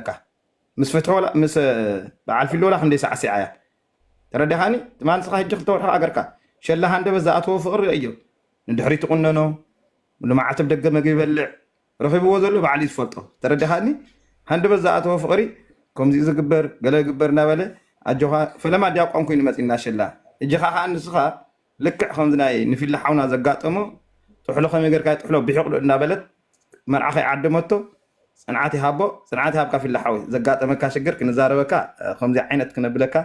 ኣለካ ምስ ፍትሒ ወላ ምስ በዓል ፊሊ ወላ ክንደይ ሳዕሲዓ እያ ተረዲኻኒ ትማ ንስኻ ሕጂ ክልተ ወርሒ ሃገርካ ሸላ ሃንደበት ዝኣተዎ ፍቕሪ ርእዮ ንድሕሪት ትቑነኖ ልማዓት ብ ደገ መግቢ ይበልዕ ረኺብዎ ዘሎ በዓል እዩ ዝፈልጦ ተረዲኻኒ ሃንደበት ዝኣተዎ ፍቕሪ ከምዚኡ ዝግበር ገለ ግበር እናበለ ኣጆኻ ፈለማ ዲያቆን ኮይኑ መፂና ሸላ ሕጂ ኻዓ ንስኻ ልክዕ ከምዚ ናይ ንፊሊ ሓውና ዘጋጠሞ ጥሕሎ ከመይ ጌርካ እዩ ጥሕሎ ቢሒቅሉ እንዳበለት መርዓ ከይዓደመቶ ፅንዓት ይሃቦ ፅንዓት ይሃብካ ፊሊ ሓወይ ዘጋጠመካ ሽግር ክንዛረበካ ከምዚ ዓይነት ክነብለካ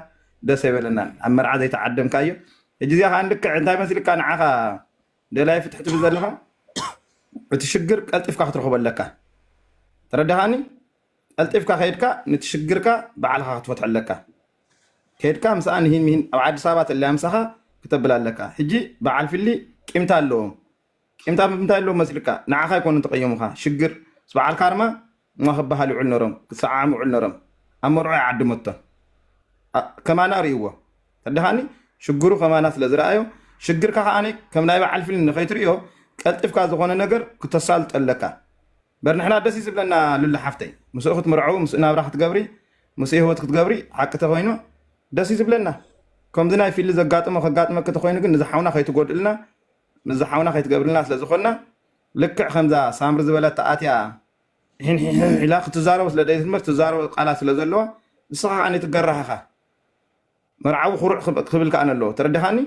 ደስ ኣይበለናን ኣብ መርዓ ዘይተዓደምካዮ ሕጂ እዚኣ ከዓ ልክዕ እንታይ መስልካ ንዓኻ ደላይ ፍትሒ ትብል ዘለኻ እቲ ሽግር ቀልጢፍካ ክትረኽቦ ኣለካ ተረዳኻኒ ቀልጢፍካ ከይድካ ነቲ ሽግርካ ባዕልኻ ክትፈትሖ ኣለካ ከድካ ምሳኣ ንሂን ምሂን ኣብ ዓዲስ ኣበባ ተለያ ምሳካ ክተብል ኣለካ ሕጂ ብዓል ፊሊ ቂምታ ኣለዎም ቂምታ ብምንታይ ኣለዎም መስልካ ንዓካ ኣይኮኑን ተቀየሙካ ሽግር ምስ ብዓል ካርማ እማ ክብሃል ይዑል ነሮም ክሰዓዓሙ ይዑል ነሮም ኣብ መርዑ ኣይዓድመቶን ከማና ሪእዎ ተደካኒ ሽግሩ ከማና ስለ ዝረኣዮ ሽግርካ ከኣ ከም ናይ ብዓል ፊሊ ንከይትሪኦ ቀልጥፍካ ዝኮነ ነገር ክተሳልጦ ኣለካ እምበር ንሕና ደስ እዩ ዝብለና ሉሊ ሓፍተይ ምስኡ ክትምርዐዊ ምስኡ ናብራ ክትገብሪ ምስኡ ሂወት ክትገብሪ ሓቂ ተኮይኑ ደስ እዩ ዝብለና ከምዚ ናይ ፊሊ ዘጋጥሞ ከጋጥመኪ ተኮይኑ ግን ንዚ ሓውና ከይትጎድእልና ምስዚ ሓውና ከይትገብርልና ስለ ዝኮና ልክዕ ከምዛ ሳምሪ ዝበለታ ኣትያ ሒንሒሕ ኢላ ክትዛረቦ ስለ ደይትምር ትዛረቦ ቃላት ስለ ዘለዋ ንስኻ ከዓ ነይትገራህ ኢኻ መርዓዊ ኩሩዕ ክብል ከኣ ኣለዎ ተረዳኻኒ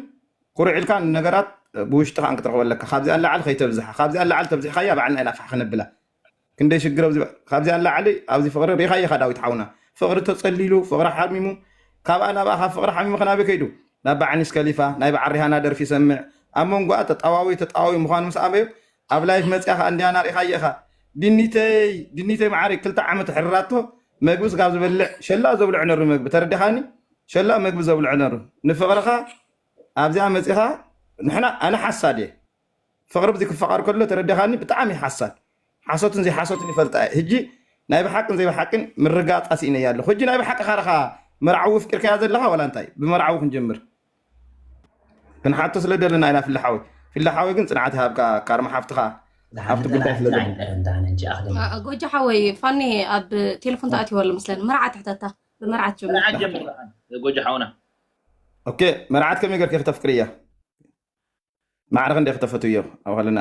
ኩሩዕ ኢልካ ንነገራት ብውሽጥኻ ክትረኽበ ኣለካ ካብዚኣ ንላዕሊ ከይተብዝሓ ካብዚኣ ንላዕሊ ተብዚሕካያ ባዕልና ኢና ፋሕ ክነብላ ክንደይ ሽግር ኣብዚ ካብዚኣ ንላዕሊ ኣብዚ ፍቕሪ ሪእኻዮ ኢኻ ዳዊት ሓውና ፍቕሪ ተጸሊሉ ፍቕሪ ሓሚሙ ካብኣ ናብኣ ካብ ፍቕሪ ሓሚሙ ከናበይ ከይዱ ናብ ባዕኒስ ከሊፋ ናይ በዓል ሪሃና ደርፊ ይሰምዕ ኣብ መንጎኣ ተጣዋዊ ተጣዋዊ ምዃኑ ምስ ኣበዮ ኣብ ላይፍ መጽያ ከኣ እንድያና ሪካዬ ኢካ ቢኒተይ ቢኒተይ መዓረይ ክልተ ዓመት ሕርራቶ መግብስ ካብ ዝበልዕ ሸላ ዘብልዑ ነሩ መግቢ ተረዲካኒ ሸላ መግቢ ዘብልዑ ነሩ ንፍቅርካ ኣብዚኣ መጺካ ንሕና ኣነ ሓሳድ እየ ፍቅሪ ብዚ ክፋቀር ከሎ ተረዲካኒ ብጣዕሚ ሓሳድ ሓሶትን ዘይሓሶትን ይፈልጣ እየ ህጂ ናይ ብሓቅን ዘይብሓቅን ምርጋጻ ሲኢነያ ኣለኩ ህጂ ናይ ብሓቂ ካርካ መርዓዊ ፍቂርካያ ዘለካ ዋላ እንታይ ብመርዓዊ ክንጀምር ክንሓቶ ስለ ደለና ኢና ፊላ ሓወይ ፊላ ሓወይ ግን ጽንዓት ይሃብካ ካርማ ሓፍትኻ ኣብቲ ጉዳይ ስለ ጎጃ ሓወይ ፋኒ ኣብ ቴሌፎን ተኣትዮ ኣሎ ምስለን መርዓት ትሕተታ ብመርዓት ጀምርጎጃ ሓውና ኦኬ መርዓት ከመይ ገርኪ ክተፍቅሪ እያ ማዕረ ክንደይ ክተፈትዮ ኣብ ከለና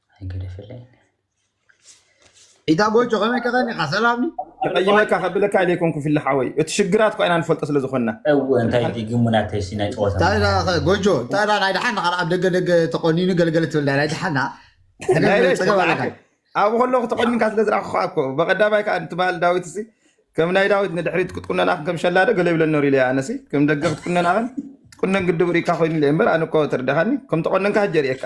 ኣይገደፈለይ ኢታ ጎጆ ከመይ ከኸኒኻ ሰላም ኒ ክቐይመካ ከብለካ ኢለ ይኮንኩ ፊሊ ሓወይ እቲ ሽግራት እኳ ኢና ንፈልጦ ስለ ዝኾንና እወ እንታይ እቲ ግሙናተይ ሲ ናይ ጨወታ እንታይ ዳ ከ ጎጆ እንታይ ዳ ናይ ደሓን ንኻል ኣብ ደገ ደገ ተቆኒኑ ገለገለ ትብል ናይ ደሓና ናይ ሕነ ለይት ፀገብ ኣለካ ተባዕከ ኣብኡ ከለኹ ተቆኒንካ ስለ ዝረኣኹ እኮ በቐዳማይ ከዓ እቲ በሃል ዳዊት ሲ ከም ናይ ዳዊት ንድሕሪት ክትቁነናኽን ከም ሸላዶ ገለ ይብለ ኖር ኢለ ኣነ ሲ ከም ደገ ክትቁነናኽን ትቁነን ግድብ ርኢካ ኮይኑ ኢለ እምበር ኣነ እኮ ተረዳኻኒ ከም ተቆነንካ ሕጂ የርእየካ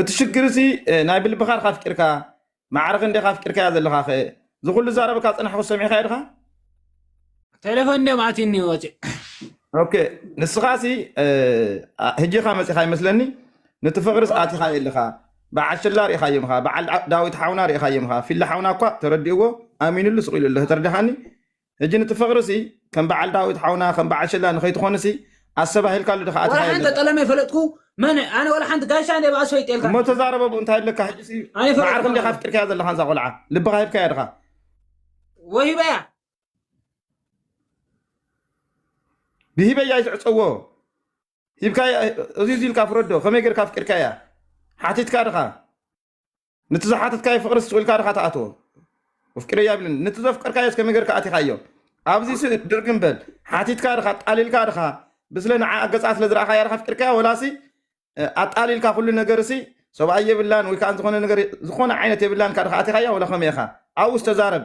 እቲ ሽግር እዚ ናይ ብልብካ ድካ ኣፍቂርካ ማዕረ ክንደይካ ኣፍቂርካያ ዘለካ ከ እዚ ኩሉ ዛረበካ ዝጸናሕኩ ሰሚዕካዮ ድካ ቴሌፎን ድዮም ኣትዩኒ ወፂ ኦኬ ንስኻ ሲ ህጂኻ መፂኻ ይመስለኒ ነቲ ፍቕርስ ኣቲኻዮ ኣለኻ በዓል ሽላ ርኢኻዮ ምኻ በዓል ዳዊት ሓውና ርኢኻዮ ምኻ ፊላ ሓውና እኳ ተረዲእዎ ኣሚኑሉ ስቂሉ ኣሎ ተረዳኻኒ ሕጂ ንቲ ፍቅሪሲ ከም በዓል ዳዊት ሓውና ከም በዓል ሽላ ንከይትኮንሲ ኣሰባሂልካሉ ዲካ ኣቲ ሓየለ። ወላሓንቲ ጠለመ ይፈለጥኩ መን ኣነ ወላሓንቲ ጋሻ እንደ ባኣስ ፈይጤልካ። እሞ ተዛረበ ብኡ እንታይ ኣለካ ሕጂሲ መዓርኩ እንዲካ ኣፍቂርካያ ዘለካ ንዛ ቆልዓ ልብካ ሂብካያ ድካ። ወሂበያ። ብሂበያ እዩ ዝዕጸዎ ሂብካያ እዚ እዚ ኢልካ ፍረዶ ከመይ ጌርካ ኣፍቂርካያ ሓቲትካ ድካ። ንቲ ዝሓተትካዮ ፍቅሪ ስቅ ኢልካ ድካ ትኣትዎ ኣፍቂረያ ይብልን ንቲ ዘፍቀርካዮ እስከ መገርካ ኣቲካዮ ኣብዚ ሲ ድርግም በል ሓቲትካ ድካ ኣጣሊልካ ድካ ብስለ ንዓ ገፃ ስለ ዝረኣካያ ድካ ኣፍቂርካያ ወላሲ እ፣ ኣጣሊልካ ኩሉ ነገር ሲ ሰብኣይ የብላን ወይ ከዓ ዝኾነ ነገር ዝኾነ ዓይነት የብላን ካ ድካ ኣቲካያ ወላ ከመይ ኢካ ኣብኡ ዝተዛረብ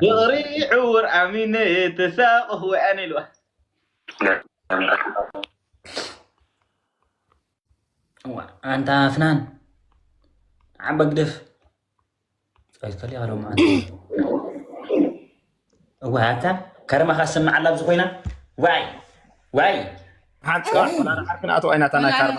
ፍቕሪ ዕውር ኣሚነ ተሳቐኹ ኣነ ኢልዋ ኣንታ ፍናን ዓባ ግደፍ ጸልከል ያለው ማለት እዋ ኣታ ከረማኻ ዝሰምዕ ኣላ ኣብዚ ኮይና ዋይ ዋይ ሓንቲ ዓርክን ኣቶ ኣይናታና ካርማ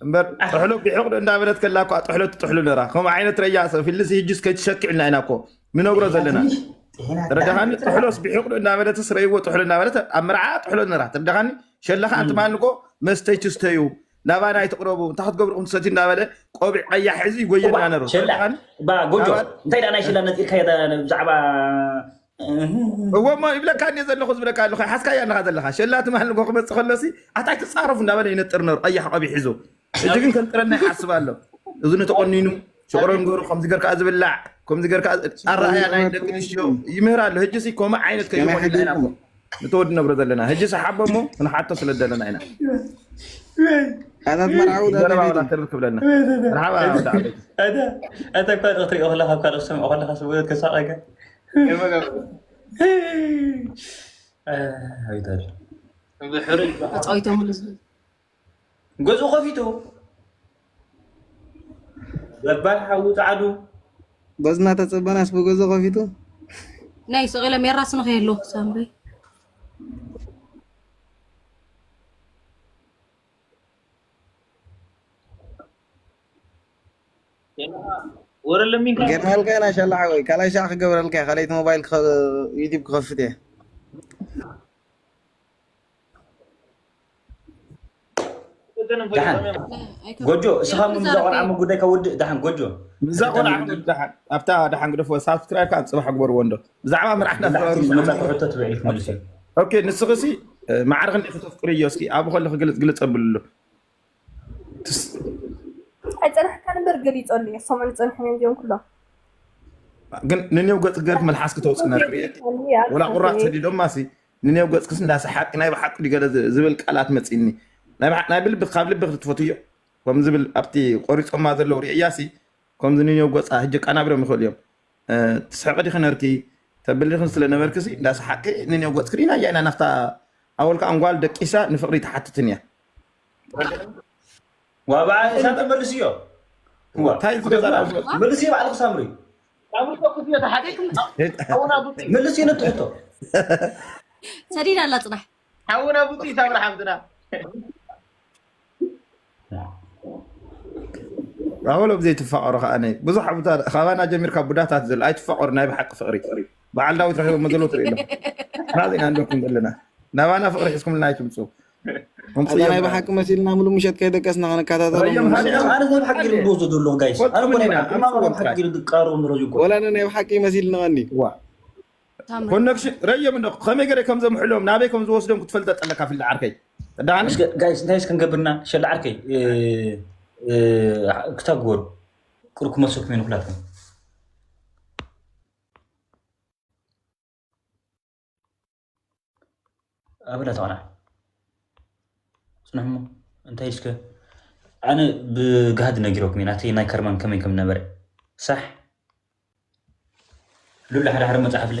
እምበር ጥሕሎ ቢሑቕ እንዳበለት ከላ እኳ ጥሕሎ ትጥሕሉ ነራ ከምኡ ዓይነት ረያ ሰብ ህልዚ ህጅስ ከይትሸክዕልና ኢና እኮ ንነግሮ ዘለና ተረዳኻኒ ጥሕሎስ ቢሑቕ እንዳበለትስ ረይዎ ጥሕሎ እንዳበለት ኣብ መርዓ ጥሕሎ ነራ ተረዳኻኒ ሸለኻ እንትማን እኮ መስተይ ትስተዩ ናባና ኣይትቕረቡ እንታይ ክትገብርኹም ትሰትዩ እንዳበለ ቆቢዕ ቀያሕ ሒዙ ይጎየና ነሩ ሸላ ተረዳኻኒ ባ ጎጆ ሰባት እንታይ ደኣ ናይ ሸላ ነፂርካዮ ዳ- ብዛዕባ እዎ እሞ ይብለካ እኒ ዘለኹ ዝብለካ ኣለኹ ሓስካያ ኣለኻ ዘለኻ ሸላ ትማል ንጎ ክመፅእ ከሎሲ ኣታይ ትፃረፉ እንዳበለ ይነጥር ነሩ ቀያሕ ቆቢ ሒዙ ሕጂ ግን ከንጥረና ይሓስብ ኣሎ እዚ ንተቆኒኑ ሽቕሮን ገሩ ከምዚ ገርካ ዝብላዕ ከምዚ ገርካ ኣረኣያ ናይ ደቂ ኣንስትዮ ይምህር ኣሎ ሕጂሲ ከምኡ ዓይነት ከይኾን ይላና ንተወዲ ነብረ ዘለና ህጂ ሰሓቦ እሞ ክንሓቶ ስለ ዘለና ኢና ተርፍ ክብለና ርሓባ እተ ካልኦ ክትሪኦ ከለካ ካልኦ ክትሰምዖ ከለካ ስብት ክሳቀገ ብሕሩይ ገዝኡ ከፊቱ ገባር ሓዊ ጻዕዱ በዚ እናተፀበናስ ብገዞ ከፊቱ ናይ ስቂለ ሜራ ስንኸ የለዉ ሳምበይ ወረለሚን ገርናልካ ኢና ሻላ ሓወይ ካልኣይ ሻዕ ክገብረልካ እየ ካልኣይቲ ሞባይል ክኸ- ዩቲብ ክኸፍት እየ ጎጆ እስኻ ውን እዛ ቆልዓ ጉዳይ ካብ ውድእ ድሓን ጎጆ እዛ ቆልዓ ድሓን ኣብታ ድሓን ግደፎ ሳብስክራይብ ከዓ ፅባሕ ግበርዎ እንዶ ብዛዕባ መርዓሕና ሕቶ ትበ ክትመልስ ኦኬ ንስኺ ሲ ማዕርኽ እንዲ ሕቶ ፍቅሪ እዮ እስኪ ኣብ ከሎ ክግልፅ ግልፅ ኣብልሉ ኣይፀናሕካ ንበር ገሊፀሉ እየ ሰሙን ዝፀንሐን እዮም ኩሎም ግን ንኔው ገፅ ገርክ መልሓስ ክተውፅእ ነርኢ ወላ ቁራፅ ሰዲዶማ ሲ ንኔው ገጽክስ እንዳ ሰሓቅኪ ናይ ብሓቂ ድዩ ገለ ዝብል ቃላት መጺኒ ናይ ብሓቂ ናይ ብልቢ ካብ ልቢ ክትፈትውዮ ከም ዝብል ኣብቲ ቆሪጾማ ዘለዉ ሪኤያሲ ከምዚ ንኔው ገጻ ህጂ ቃናብርም ይክእሉ እዮም ትስሕቂ ዲኪ ነርኪ ተብሊ ዲኪ ስለ ነበርክሲ እንዳ ሰሓቅኪ ንኔው ገጽኪ ሪኢናያ ኢና ናክታ ኣወል ከኣ ንጓል ደቂሳ ንፍቅሪ ኣይትሓትትን እያ ዋባኣ እሳተ መልስዮ ታይ ዝገዛላ መልስዮ ባዕልኪ ሳምሪ ካብ ርሑቕ ክትዮ ተሓቂቅም ሓውና ብፁዕ ምልስ እዩ ነቲ ሕቶ ሰዲድ ኣላ ፅናሕ ሓውና ብፁዕ ሳምራ ሓፍትና ኣወሎ ብዘይ ትፋቐሩ ከዓ ነ ብዙሕ ኣብታ ካባና ጀሚርካ ቡዳታት ዘለ ኣይትፋቐሩ ናይ ብሓቂ ፍቕሪ በዓል ዳዊት ረኪቦ መዘሎ ትርኢ ኣለኹ ናዘይ ኣለኩም ዘለና ናባና ፍቕሪ ሒዝኩምልና ኣይትምፁ ኣንተ ናይ ብሓቂ መሲልና ምሉ ምሸት ከይደቀስና ክንከታተሎም ወላ ናይ ብሓቂ መሲልና ቀኒ ኮነክሽን ረዮም እንዶ ከመይ ገረ ከም ዘምሕሎም ናበይ ከም ዝወስዶም ክትፈልጠ ጠለካ ፍልዲ ዓርከይ ጋይስ ክንገብርና ሸላ ዓርከይ ክታብ ግበሩ ቅር ክመልሰኩም ይኑ ኩላትኩም ኣበዳ ተቐናዕ ፅንሕሞ እንታይ እስከ ኣነ ብጋህዲ ነጊረኩም ኢና እቲ ናይ ከርማን ከመይ ከም ነበረ ሳሕ ሉላ ሓደ ሓደ መፅሓፍ ለ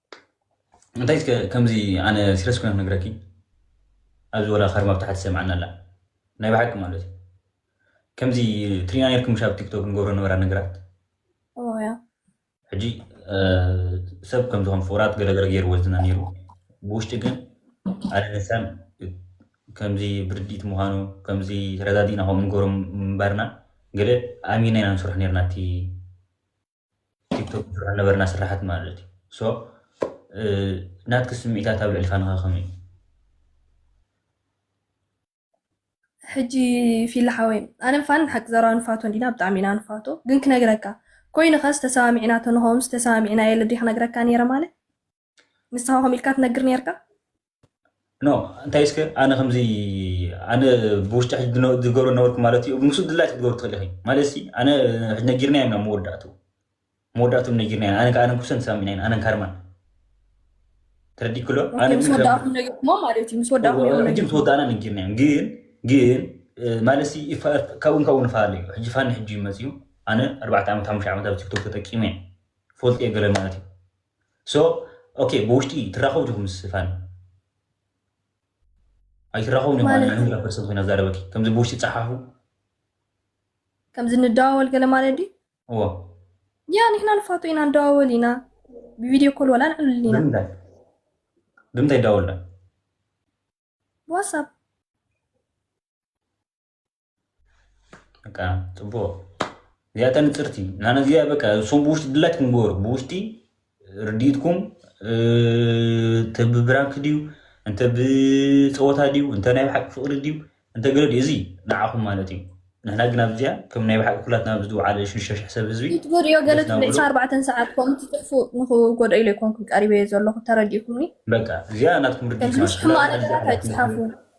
እንታይ እስከ ከምዚ ኣነ ሲረስ ኮይነ ክነግረኪ ኣብዚ ወላ ከርማ ብታሕቲ ሰምዓና ኣላ ናይ ባሓቂ ማለት እዩ ከምዚ ትሪና ነርኩም ሻብ ቲክቶክ ንገብሮ ነበራ ነገራት ሕጂ ሰብ ከምዚ ከም ፍቅራት ገለገለ ገይርዎ ዝና ነይሩ ብውሽጢ ግን ኣነ ንሳን ከምዚ ብርዲት ምዃኑ ከምዚ ተረዳዲእና ከምኡ ንገብሮ ምንባርና ገለ ኣሚና ኢና ንስርሑ ነርና እቲ ቲክቶክ ንሰርሖ ነበርና ስራሓት ማለት እዩ ሶ ናትኪ ስምዒታት ኣብ ልዕሊ ፋንኻ ከመይ እዩ ሕጂ ፊሊ ሓወይ ኣነ ፋን ሓቂ ዘረባ ንፋቶ እንዲና ብጣዕሚ ኢና ንፋቶ ግን ክነግረካ ኮይኑ ከስ ተሰማሚዕና ተንኸውንስ ተሰማሚዕና የለ ድዩ ክነግረካ ነይረ ማለት ንስኻ ከምኡ ኢልካ ትነግር ነርካ ኖ እንታይ እስከ ኣነ ከምዚ ኣነ ብውሽጢ ሕጂ ዝነ- ዝገብሮ ነበርኩ ማለት እዩ ምስ ድላይት ክትገብሩ ትኽእሊ ኢኺ ማለት ሲ ኣነ ሕጂ ነጊርና ኢና መወዳእቱ መወዳእቱ ነጊርና ኢና ኣነ ኣነ ኩሰን ተሳሚዕና ኢና ኣነን ካርማን ተረዲእ ክሎ ኣነ ምስ ግን ከም- ወዳእኩም ነጊርኩሞ ማለት እዩ ምስ ወዳእኩም ነጊርኩሞ ሕጂ ምስ ወዳእና ነጊርና እዮም ግን ግን ማለት ሲ ይፋ- ካብኡን ካብኡ ንፈላለ እዩ ሕጂ ፋኒ ሕጂ እዩ መፅኡ ኣነ ኣርባዕተ ዓመት ሓሙሽተ ዓመት ኣብ ቲክቶክ ተጠቂመ እየ ፈልጥ እየ ገለ ማለት እዩ So ok ብውሽጢ ትራኸቡ ዲኹም ምስ ፋኒ ኣይትራኸቡን እዮም ማለት ማለት ንሕና ፐርሰን ኮይና ዛረበኪ ከምዚ ብውሽጢ ጸሓፉ ከምዚ ንደዋወል ገለ ማለት ድዩ እዎ ያ ንሕና ንፋቶ ኢና ንደዋወል ኢና ብቪድዮ ኮል ዋላ ንዕልል ኢና ብምንታይ ብምንታይ ይዳወሉላ ብዋትሳፕ በቃ ጽቡቅ እዚኣ ተንጽርቲ ናነ እዚኣ በቃ እሶም ብውሽጢ ድላይ ትንገሩ ብውሽጢ ርድኢትኩም እንተ ብብራንክ ድዩ እንተ ብፀወታ ድዩ እንተ ናይ ብሓቂ ፍቅሪ ድዩ እንተ ገለ ድዩ እዚ ንዓኹም ማለት እዩ ንሕና ግን ኣብዚኣ ከም ናይ ብሓቂ ኩላትና ኣብዚ ዝውዓለ ሽዱሽተ ሽሕ ሰብ ህዝቢ ትጎድእዮ ገለ ትብል 24 ሰዓት ከምኡ ትጥፉ ንክጎድኦ ኢለ ይኮንኩ ቀሪበዮ ዘለኹ ተረዲእኩምኒ በቃ እዚኣ ናትኩም ርድኢት ከምዚ ሕማቅ ነገራት ኣይትፅሓፉ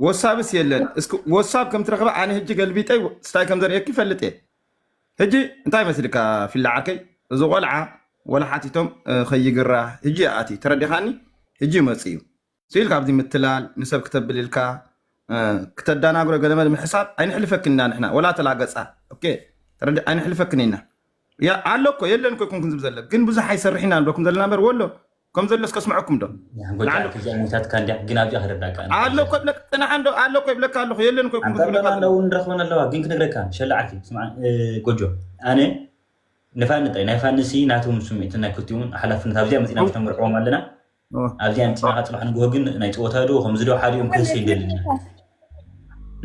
ወሳብስ የለን እስኪ ወሳብ ከም ትረኽበ ኣነ ህጂ ገልቢጠ ስታይ ከም ዘርእየኪ ይፈልጥ እየ ህጂ እንታይ መስልካ ፊላ ዓርከይ እዚ ቆልዓ ወላ ሓቲቶም እ፣ ከይግራ ህጂ እዩ ኣትዩ ተረዲኻኒ ህጂ ይመፅ እዩ ስኢል ካብዚ ምትላል ንሰብ ክተብል ኢልካ እ፣ ክተዳናግሮ ገለመለ ምሕሳብ ኣይንሕልፈክን ኢና ንሕና ወላ ተላገፃ ኦኬ ተረዲ ኣይንሕልፈክን ኢና ያ ኣሎ እኮ የለን እኮ ይኩንክን ዝብ ዘለ ግን ብዙሕ ኣይሰርሕ ኢና ንብለኩም ዘለና በር ወሎ ከም ዘሎስ ከስምዐኩም ዶ ጎይታ ንዓንዶ ኣርክዚኣ ሞይታትካ እንድያ ግን ኣብዚኣ ክረዳእካ እንተ ኣሎ እኮ ይብለካ ንዓንዶ ኣሎ እኮ ይብለካ ኣለኹ የለን እኮ ይኩም ኣንተ ክትብለካ ኣሎና ኣለዉ ንረኽበን ኣለዋ ግን ክንግረካ ሸላ ዓርኪ ስምዓ እ፣ ጎጆ ኣነ ንፋኒ ጥራይ ናይ ፋንሲ ናትውን ስምዒትን ናይ ክልቲውን ሓላፍነት ኣብዚኣ መጺና ምስ ነምርዕዎም ኣለና ኣብዚኣ መጺና ካብ ጽባሕ ንግሆ ግን ናይ ጸወታ ዶ ከምዚ ዶ ሓዲኦም ክህሰ ይደልኒ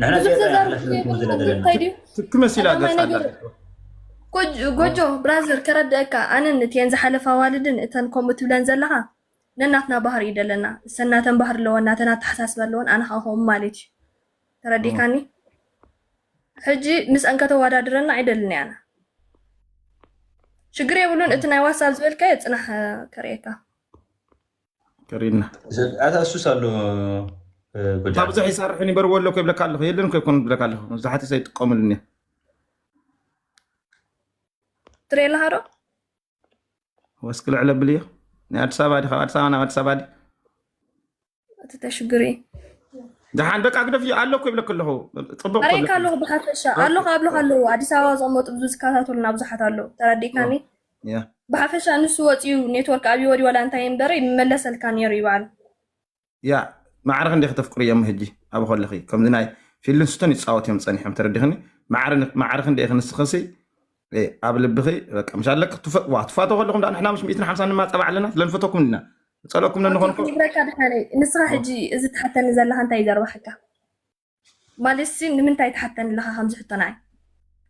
ንሕና ብዙሕ ዚያዳ ዘዛርብ ሓላፍነት ዘይብሉ ክንወስድ ኣለና። እንታይ ድዩ ትክ መሲላ ቀዳማይ ገጻ ኣላ ነገር እኮ። ጎጅ ጎጆ ብራዘር ከረድአካ ኣነን እቲኤን ዝሓለፋ ኣዋልድን እተን ከምኡ ትብለን ዘለኻ ነናትና ባህሪ እዩ ደለና እሰን ናተን ባህሪ ኣለወን ናተን ኣተሓሳስባ ኣለወን ኣነ ከዓ ከምኡ ማለት እዩ ተረዲእካኒ ሕጂ ምስአን ከተወዳድረና ኣይደልን እየ ኣነ ሽግር የብሉን እቲ ናይ ዋትሳብ ዝበልካዮ ፅናሕ እ፣ ከርእየካ ቀሪብና ኣታ እሱስ ኣሎ ጎጃም ካብዙሕ ይሰርሕን ይበርዎ ኣለኩ ይብለካ ኣለኹ የለን ኮ ይኮኑ ብለካ ኣለኹ መብዛሕትኡ ሰብ ይጥቀምሉን እዮም ትሪኦ ኣለካ ዶ ወስኪ ልዕለ ብል እዮ ናይ ኣዲስ ኣበባ ዲ ካብ ኣዲስ ኣበባ ናብ ኣዲስ ኣበባ ዲ እቲ ተሽግሪ ድሓን በቃ ግደፍ እዩ ኣለኩ ይብለክ ኣለኹ ፅቡቅ እኮ ኣርእካ ይብለክ ኣለኹ ብሓፈሻ ኣለኹ ኣብለኹ ኣለዎ ኣዲስ ኣበባ ዝቕመጡ ብዙ ዝከታተሉና ብዙሓት ኣለዉ ተረዲእካኒ ያ ብሓፈሻ ንሱ ወጺኡ ኔትወርክ ኣብይ ወዲዩ ዋላ እንታይ ይንበር ይመለሰልካ ኔሩ እዩ ባዕሉ። ያ ማዕረ ክንደይ ከተፍቅርዮ እሞ ሕጂ ኣብ ከለኺ ከምዚ ናይ ፊልንስቶን ይጻወት እዮም ጸኒሖም ተረዲኽኒ ማዕረ ማዕረ ክንደይ ኢኺ ንስኽሲ እ፣ ኣብ ልብኺ በቃ ምስ ኣለኪ ትፈ- ዋ ትፋተው ከለኹም ደኣ ንሕና ምስ 150 ንማጸባ ኣለና ስለንፈተኩም ኢና ንጸለኩም ኦኬ ነንኾንኮ ክንብረካ ድሓነይ ንስኻ ሕጂ እዚ ትሓተኒ ዘለኻ እንታይ እዩ ዘርባሓካ? ማለትሲ ንምንታይ ትሓተኒ ኣለኻ ከምዚ ሕቶ ንዓይ?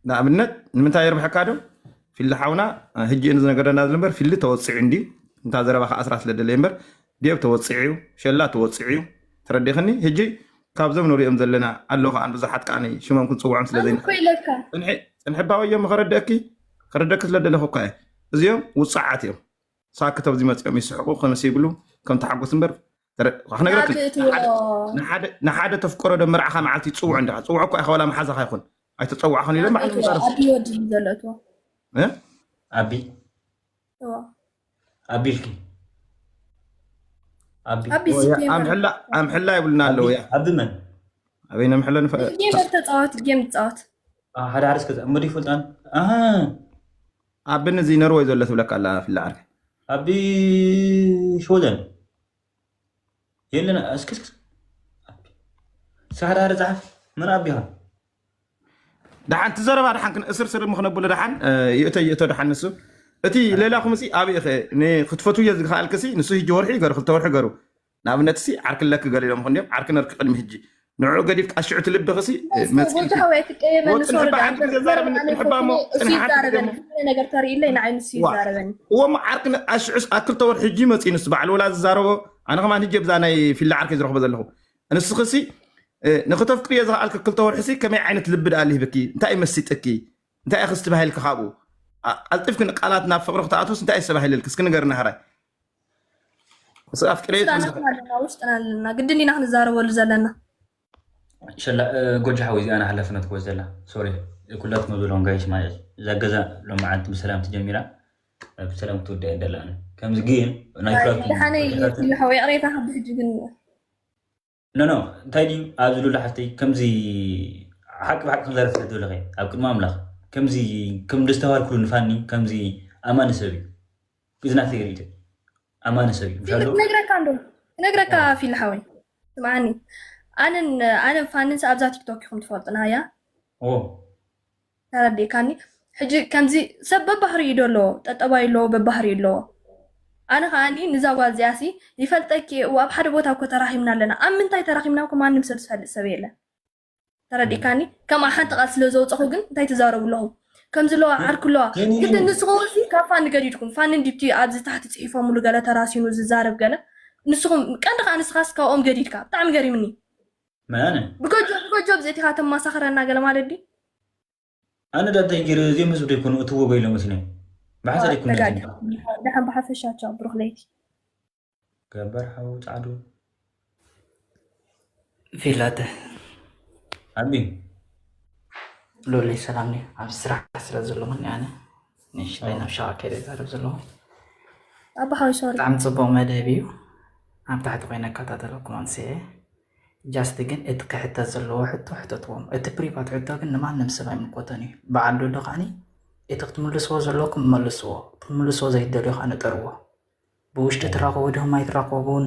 ንኣብነት ንምንታይ የርብሐካ ዶ ፊሊ ሓውና ህጂ እዩ ዝነገረና ዘሎ እምበር ፊሊ ተወፂዑ እንድዩ እንታ ዘረባ ከዓ ስራ ስለ ደለየ እምበር ዴብ ተወፂዑ እዩ ሸላ ተወፂዑ እዩ ተረዲኽኒ ህጂ ካብዞም ንሪኦም ዘለና ኣሎ ከዓ ብዙሓት ከዓ ሽሞም ክንፅውዖም ስለ ኣነ ዘይንኽእል እኮ ኢለካ ፅንሒ ፅንሒ ባወዮም ከረደእኪ ከረደእኪ ስለ ደለኹ እኳ እየ እዚኦም ውፃዓት እዮም ሳክት ኣብዚ መፂኦም ይስሕቁ ከምስ ይብሉ ከም ተሓጎስ እምበር ክነግረኪ ንሓደ ተፍቀሮ ዶ መርዓኻ መዓልቲ ይፅውዑ እንዳ ፅውዖ እኳ ኢኻ ዋላ መሓዛኻ ይኹን ኣይተፀዋዕኹን ኢሎም ባዕሉ ምዛረብ ኣቢ ኣቢልኪ ኣምሕላ ይብሉና ኣለዉ እያ ኣቢ መን ኣበይ ነምሕሎ ንፈተፃወት ጌም ትፃወት ሓደ ሓደ እስከ እሞ ዲፈልጣን ኣቢ ንዚ ነርወይ ዘሎ ትብለካ ኣላ ፍለ ዓርከይ። ኣቢ ሽወደን የለን እስኪ እስኪ ኣቢ ሳሕዳሪ ጻሓፍ መን ኣቢኻ ደሓን እቲ ዘረባ ደሓን ክን- እስር ስር ምክነብሉ ደሓን እ፣ ይእቶ ይእቶ ደሓን ንሱ እቲ ሌላኹም ሲ ኣብይ ኸ ክትፈትውዮ ዝኸኣልክሲ ንሱ ሂጂ ወርሒ ገሩ ክልተ ወርሒ ገሩ ንኣብነትሲ ዓርኪ ለኪ ገሊሎም ይኾኑ ድዮም ዓርኪ ነርኪ ቅድሚ ሕጂ ንዕዑ ገዲፍኪ ኣሽዑ ትልብኽሲ መጺእልኪ ወጽንሕባ ሓንቲ ግዜ ዛረብኒ ጽንሕባ እሞ ጽንሒ ሓንቲ ግዜ እሞ ነገር ተርእይለይ ንዓይ ንሱ ዋ ይዛረበኒ እዎ እሞ ዓርኪ ነ- ኣሽዑ ኣብ ክልተ ወርሒ ሕጂ መጺኡ ንሱ በዓል ወላ ዝዛረቦ ኣነ ከማን ሕጂ ብዛ ናይ ፊላ ዓርከይ ዝረኽቦ ዘለኹ ንስኽሲ እ፣ ንክተፍቅርዮ ዝኸኣልኪ ክልተ ወርሒሲ ከመይ ዓይነት ልቢ ደኣ ልሂብኪ እንታይ እዩ መሲጥኪ እንታይ እዩ ክስትባሂልኪ ካብኡ ኣ- ቀልጢፍኪ ንቃላት ናብ ፍቕሪ ክተኣትውስ እንታይ እዩ ዝተባሂልልኪ እስኪ ንገርና ሃራይ ውስጥና ኣለና ግድን ኢና ክንዛረበሉ ዘለና ጎጃ ሓወይ እዚኣ ሓላፍነት ክወስ ዘላ ሶሪ ኩላትኩም ዘለዎም ጋይሽ ማለት እዛ ገዛ ሎም መዓልቲ ብሰላም ትጀሚራ ብሰላም ክትወዳእ ደላኒ ከምዚ ግን ናይ ኩላትኩም ይቅሬታ ከብሕጂ ግን ኖኖ እንታይ ድዩ ኣብዚ ሉላ ሓፍተይ ከምዚ ሓቂ ብሓቂ ከምዘረፍ ስለትብልኸ ኣብ ቅድሚ ኣምላኽ ከምዚ ከም ደስተባሃልኩሉ ንፋኒ ከምዚ ኣማኒ ሰብ እዩ እዚ ናተይ ርእቶ ኣማኒ ሰብ እዩ ምሻሎ ነግረካ እንዶ ነግረካ ፊል ሓወይ ስምዓኒ ኣነን ኣነን ፋንን ኣብዛ ቲክቶክ ኢኹም ትፈልጡና እያ ተረዲእካኒ ሕጂ ከምዚ ሰብ በባህሪኡ ዶ ኣለዎ ጠጠባይ ኣለዎ በባህሪኡ ኣለዎ ኣነ ከኣ ንዛ ጓል እዚኣ ሲ ይፈልጠኪ እየ እወ ኣብ ሓደ ቦታ እኮ ተራኪብና ኣለና ኣብ ምንታይ ተራኪብና እኮ ማንም ሰብ ዝፈልጥ ሰብ የለን ተረዲእካኒ ከምኣ ሓንቲ ቃል ስለ ዘውጸኹ ግን እንታይ ትዛረቡ ኣለኹም ከምዚ ኣለዋ ዓርኪ ኣለዋ ግድን ንስኹም ሲ ካብ ፋኒ ገዲድኩም ፋኒ እንዲቲ ኣብዚ ታሕቲ ጽሒፎምሉ ገለ ተራሲኑ ዝዛረብ ገለ ንስኹም ቀንዲ ከኣ ንስኻስ ካብኦም ገዲድካ ብጣዕሚ ገሪምኒ መነ ብገጆ ብገጆ ብዘቲኻ ተማሳኽረና ገለ ማለት ድዩ ኣነ ዳ እንታይ ገይረ እዚኦም ህዝቢ ዶ ይኮኑ እትዎ በይሎ መስኒ ብሓንሳ ዶ ይኮኑ ነጋዲ ደሓን ብሓፈሻ ቻው ብሩክ ለይቲ ገበር ሓው ጻዕዱ ፊላተ ኣቢ ሎለይ ሰላም ኣብ ስራሕ ስለ ዘለኹኒ ኣነ ንሽተይ ናብ ሻቅ ከይደ ዛረብ ዘለኹ ኣባሓዊ ሶሪ ብጣዕሚ ፅቡቅ መደብ እዩ ኣብ ታሕቲ ኮይነ እከታተለኩም ኣንስየ ጃስቲ ግን እቲ ክሕተት ዘለዎ ሕቶ ሕተትዎም እቲ ፕሪቫት ሕቶ ግን ንማንም ሰብ ኣይምልኮተን እዩ በዓል ዶዶ ከዓኒ እቲ ክትምልስዎ ዘለኩም መልስዎ ክትምልስዎ ዘይደልዮ ከዓ ንጠርዎ ብውሽጢ ትራኸቡ ድኹም ኣይትራኸቡን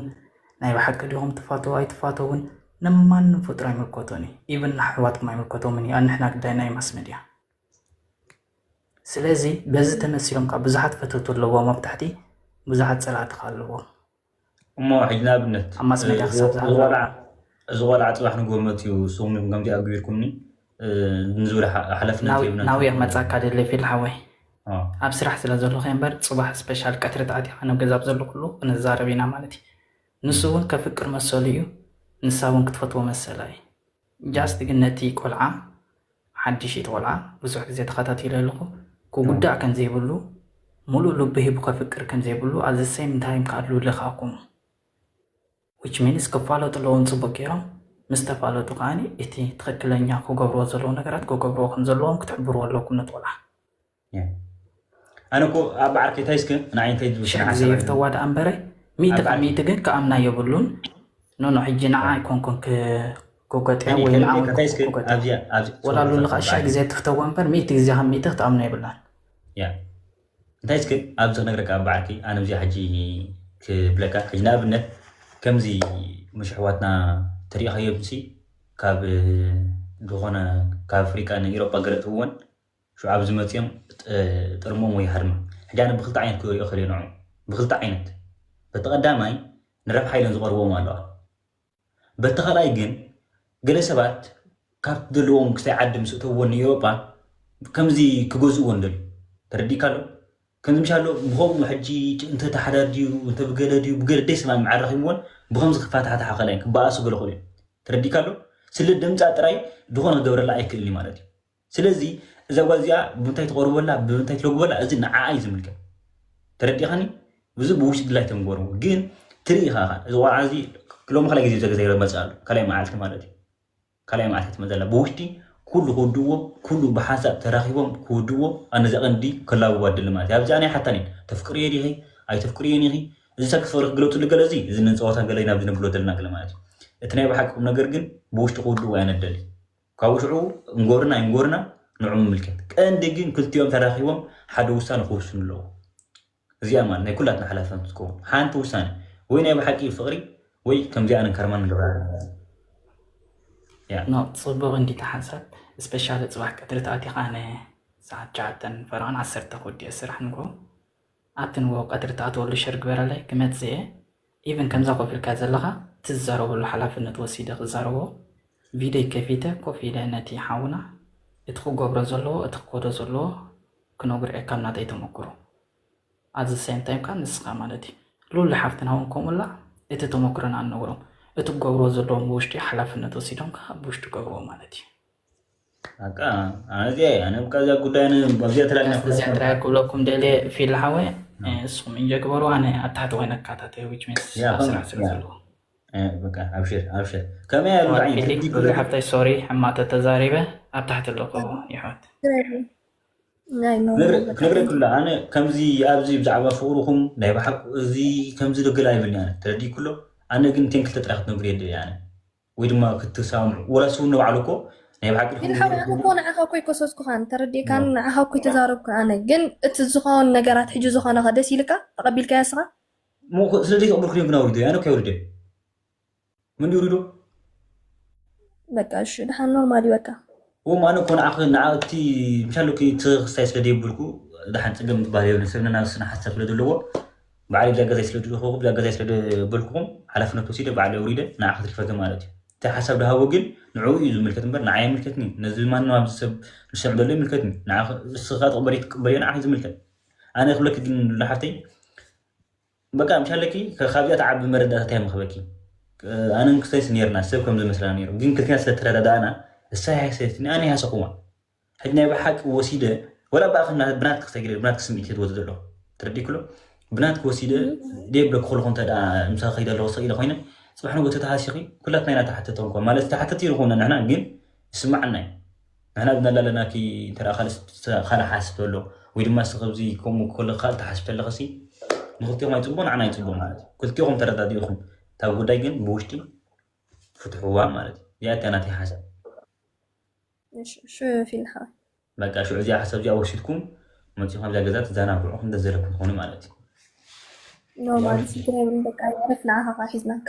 ናይ ብሓቂ ድኹም ትፋተው ኣይትፋተውን ንማንም ፍጡር ኣይምልኮቶን እዩ ኢቨን ንኣሕዋትኩም ኣይምልኮቶምን እዩ ኣንሕና ግዳይ ናይ ማስ ሚድያ ስለዚ በዚ ተመሲሎም ካብ ብዙሓት ፈተውቲ ኣለዎም ኣብ ታሕቲ ብዙሓት ጸላእቲ ከኣ ኣለዎም እሞ ሕጂ ንኣብነት ኣብ ማስ ሜድያ ክሳብ እዚ ዝሃለወ ቆልዓ እዚ ቆልዓ ጽባሕ ንግሆ መጽዩ ንስኹም ዲኹም ከምዚ ኣግቢርኩምኒ እ፣ ንዝብል ሓ- ሓላፍነት ናው- ሂብና ናውያ ክመጻካ ደሊ ፊል ሓወይ ኦ፣ ኣብ ስራሕ ስለ ዘለኹ እየ እምበር ጽባሕ ስፔሻል ቀትሪ ተኣቲኻ ናብ ገዛ ኣብ ዘለኹሉ ክንዛረብ ኢና ማለት እዩ ንሱ እውን ከፍቅር መሰሉ እዩ ንሳ እውን ክትፈትዎ መሰላ እዩ ጃስት ግን ነቲ ቆልዓ ሓድሽ እዩ እቲ ቆልዓ ብዙሕ ግዜ ተኸታቲለ ኣለኹ ክጉዳእ ከም ዘይብሉ ሙሉእ ልቡ ሂቡ ከፍቅር ከም ዘይብሉ at the same time ከኣ ሉሊ ከኣ ከምኡ which means ክፋለጡ ኣለዎም ጽቡቅ ጌሮም ምስ ተፋለጡ ከኣ እቲ ትኽክለኛ ክገብርዎ ዘለዎም ነገራት ክገብርዎ ከም ዘለዎም ክትሕብርዎ ኣለኩም ነቲ ቆልዓ ኣነ እኮ ኣብ ዓርከይ እንታይ እስከ ንዓይ እንታይ ዝብል ሽሕ ስርዓት እግዚኣብሔር ሰብኣይ ተዋደ ኣንበረ ሚእቲ ካብ ሚእቲ ግን ክኣምና የብሉን ኖኖ ሕጂ ንዓ ኣይኮንኩን ክ- ክጎጥያ እኔ ወይ ንዓ ከምኔ ወይ ከታይ እስከ ክጎጥያ ኣብዚኣ ኣብ ወላ ሶሪ ኣሉ ሶሪ ንኻ ሽሕ ብዓል ግዜ ትፍተዎ እምበር ሚእቲ ግዜ ካብ ሚእቲ ክትኣምኖ የብላን ያ እንታይ እስከ ኣብዚ ክነግረካ ኣብ በዓልኪ ኣነ እዚኣ ሕጂ ክብለካ ሕጂ ንኣብነት ከምዚ ምሽ ኣሕዋትና ተሪእኻዮም ሲ ካብ ዝኾነ ካብ ኣፍሪቃ ንኢሮጳ ገለ እትውን ሽዑ ኣብዚ መጺኦም ጥርሞም ወይ ሃድማ። ሕጂ ኣነ ብክልተ ዓይነት ክሪኦ እክል እየ ንዕኦም። ብክልተ ዓይነት። በቲ ቀዳማይ ንረብሓ ኢለን ዝቀርብዎም ኣለዋ። በቲ ካልኣይ ግን ገለ ሰባት ካብቲ ዘለዎም ክሳይ ዓዲ ምስ እተውዎ ንኤውሮጳ ከምዚ ክገዝእዎ ንደልዩ። ተረዲእካ ኣሎ? ከምዚ ምሽ ኣሎ ብኸምኡ ሕጂ እንተ ታሓዳር ድዩ እንተ ብገለ ድዩ ብገለ ደይ ሰማምዕ ኣራኺብዎን ብኸምዚ ክፋታሓታሓ ይኸእላ እየን ክበኣሱ ገለ ክብሉ እየን። ተረዲእካ ኣሎ? ስለ ደምጻ ጥራይ ዝኾነ ክገብረላ ኣይክእልን እዩ ማለት እዩ። ስለዚ እዛ ጓል እዚኣ ብምንታይ ትቐርበላ ብምንታይ ትለግበላ እዚ ንዓኣ እዩ ዝምልከት ተረዲኻኒ እዚ ብውሽጢ ድላይ ተንጎርዎ ግን ትርኢ ኻኻ እዚ ቆልዓ እዚ ሎሚ ካልኣይ ግዜ ዘገ ዘይመፅእ ኣሎ ካልኣይ መዓልቲ ማለት እዩ ካልኣይ መዓልቲ ትመፅእ ኣላ ብውሽጢ ኩሉ ክውድእዎ ኩሉ ብሓሳብ ተራኺቦም ክውድእዎ ኣነ እዛ ቀንዲ ከላግቦ ኣደሊ ማለት እዩ ኣብዚኣ ናይ ሓታን እዩ ተፍቅርዮ ዲኺ ኣይተፍቅርዮን ኢኺ እዚ ሰብ ፍቅሪ ክግለፅሉ ገለ እዚ እዚ ንፀወታ ገለ ኢና ኣብዚ ነብሎ ዘለና ገለ ማለት እዩ እቲ ናይ ብሓቂ ቁም ነገር ግን ብውሽጢ ክውድእዎ ኣነደሊ ካብኡ ሽዑ እንጎርና ኣይንጎርና ንዑ ምምልከት። ቀንዲ ግን ክልቲኦም ተራኺቦም ሓደ ውሳነ ክውስኑ ኣለዎም። እዚኣ ማለት ናይ ኩላትና ሓላፍነት ትከውን ሓንቲ ውሳነ ወይ ናይ ብሓቂ ፍቕሪ ወይ ከምዚ ኣነ ከርማን ንገብራ ኣለና። ጽቡቕ እንዲ ተሓንሳብ ስፔሻሊ ጽባሕ ቀትሪ ተኣቲኻ ን ሰዓት ሸውዓተን ፈረቓን ዓሰርተ ክውዲኦ ስራሕ ንግሆ ኣብቲ ንግሆ ቀትሪ ትኣትወሉ ሸር ግበረለይ ክመጽእ እየ ኢቭን ከምዛ ኮፍ ኢልካ ዘለኻ እቲ ዝዛረበሉ ሓላፍነት ወሲደ ክዛረቦ ቪደይ ከፊተ ኮፍ ኢለ ነቲ ሓውና እቲ ክገብሮ ዘለዎ እቲ ክከዶ ዘለዎ ክነግሮ እየ ካብ ናተይ ተመክሮ ኣዚ ሰም ታይም ከኣ ንስኻ ማለት እዩ ሉሊ ሓፍትና እውን ከምኡላ እቲ ተመክሮና ንነግሮም እቲ ክገብርዎ ዘለዎም ብውሽጢ ሓላፍነት ወሲዶም ከዓ ብውሽጢ ገብርዎ ማለት እዩ እዚኣ ክብለኩም ደልየ ፊል ሓወ ንስኹም እንጆ ግበሩ ኣነ ኣብ ታሕቲ ኮይነ ክከታተል ዊች ሚንስ ስራሕ ስለ ዘለዎ ሓፍተይ ሶሪ ሕማቅ ተተዛሪበ ኣብ ታሕቲ ኣለኹ ይሕወት ክንግረ ክሎ ኣነ ከምዚ ኣብዚ ብዛዕባ ፍቅርኹም ናይ ብሓቂ እዚ ከምዚ ደገል ኣይብልን ተረዲእ ክሎ ኣነ ግን ቴንክተ ጥራሕ ክትነግሩ የድልያ ወይ ድማ ክትሰማምዑ ወላስ እውን ንባዕሉ እኮ ናይ ብሓቂ ግን ሓው ንዓኻ እኮ ንዓኻ እኮ ኣይኮሰስኩኻን ተረዲእካን ንዓኻ እኮ ተዛረብኩ ኣነ ግን እቲ ዝኾን ነገራት ሕጂ ዝኾነኻ ደስ ኢልካ ተቐቢልካያ ስኻ ስለዚ ተቐበልኩ ግን ኣውሪዶ ኣነ እኮ የውርደ ምን ይውሪዶ በቃ እሺ ድሓን ኖርማል እዩ በቃ እም ኣነ እኮ ንዓኺ ንዓ እቲ ምሻሉኪ ትኺ ክስታይ ስለ ደይብልኩ ዳሓን ጽገም ትባሃል የብልን ሰብ ነናብ ስነ ሓሳብ ስለ ደለዎ ባዕለይ ብዛ ገዛይ ስለ ድልኹኹ ብዛ ገዛይ ስለ ደበልኩኹም ሓላፍነት ወሲደ ባዕለይ ኣውሪደ ንዓ ክትሪፈኪ ማለት እዩ እቲ ሓሳብ ድሃቦ ግን ንዕኡ እዩ ዝምልከት እምበር ንዓይ ኣይምልከትኒ ነዚ ማንም ኣብዚ ሰብ ዝሰምዕ ዘሎ ይምልከትኒ ንዓ እስኻ ትቕበልዮ ትቅበልዮ ንዓኺ ዝምልከት ኣነ ክብለኪ ግን ሉላ ሓፍተይ በቃ ምሽ ኣለኪ ካብዚኣ ትዓቢ መረዳእታ ታይ ምክበኪ ኣነ ንክሰይስ ነርና ሰብ ከምዚ መስላ ነሩ ግን ክልቴና ስለ ተረዳዳእና እሳ ሃሰየትኒ ኣነ ሃሰክዋ ሕጂ ናይ ብሓቂ ወሲደ ወላ ብኣኪ ብናትኪ ክሰግረ ብናትኪ ስምዒት ዝወት ዘሎ ትረዲክሎ ብናትኪ ወሲደ ደይ ብለኪ ኩልኩ እንተ ምሳኪ ከይደ ኣለኩ ሰቂለ ኮይነ ጽባሕ ንጎ ተተሃሲኺ ኩላትና ኢና ተሓተቲ እንኳ ማለት ተሓተቲ ንኾና ንሕና ግን ይስማዓና እዩ ንሕና ግን ኣላለናኪ እንተ ካልእ ካልእ ሓስብ ኣሎ ወይ ድማ እስኪ ከምዚ ከምኡ ክኮለኪ ካልእ ትሓስቢ ተለክሲ ንክልቲኦም ኣይጽቡቅ ንዓና ኣይጽቡቅ ማለት እዩ ክልቲኦም ተረዳዲእኹም እታ ጉዳይ ግን ብውሽጢ ፍትሕዋ ማለት እዩ እዚኣ እታ ናተይ ሓሳብ ሽዑ ፊልሓ በቃ ሽዑ እዚኣ ሓሳብ እዚኣ ወሲድኩም መፂኹም ኣብዛ ገዛ ትዘናግዑ ክንደ ዘለኩም ትኾኑ ማለት እዩ ኖ ማለት ስድራ ይብልን በቃ ዕረፍ ንዓኻ ከዓ ሒዝናካ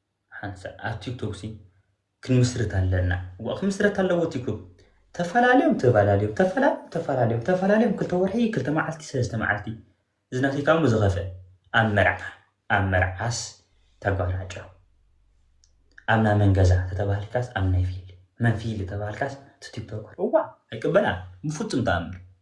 ሓንሳ ኣብ ቲክቶክ ሲ ክንምስርት ኣለና ዋ ክምስረት ኣለዎ ቲክቶክ ተፈላለዮም ተባላልዮም ተፈላለዮም ተፈላለዮም ተፈላለዮም ክልተ ወርሒ ክልተ መዓልቲ ሰለስተ መዓልቲ ዝናተይካ እሞ ዝኸፈ ኣብ መርዓ ኣብ መርዓስ ተጓናጮ ኣብ ናይ መን ገዛ ተተባህልካስ ኣብ ናይ ፊል መን ፊል ተባህልካስ ቲክቶከር እዋ ኣይቅበላን ብፍፁም ተኣምር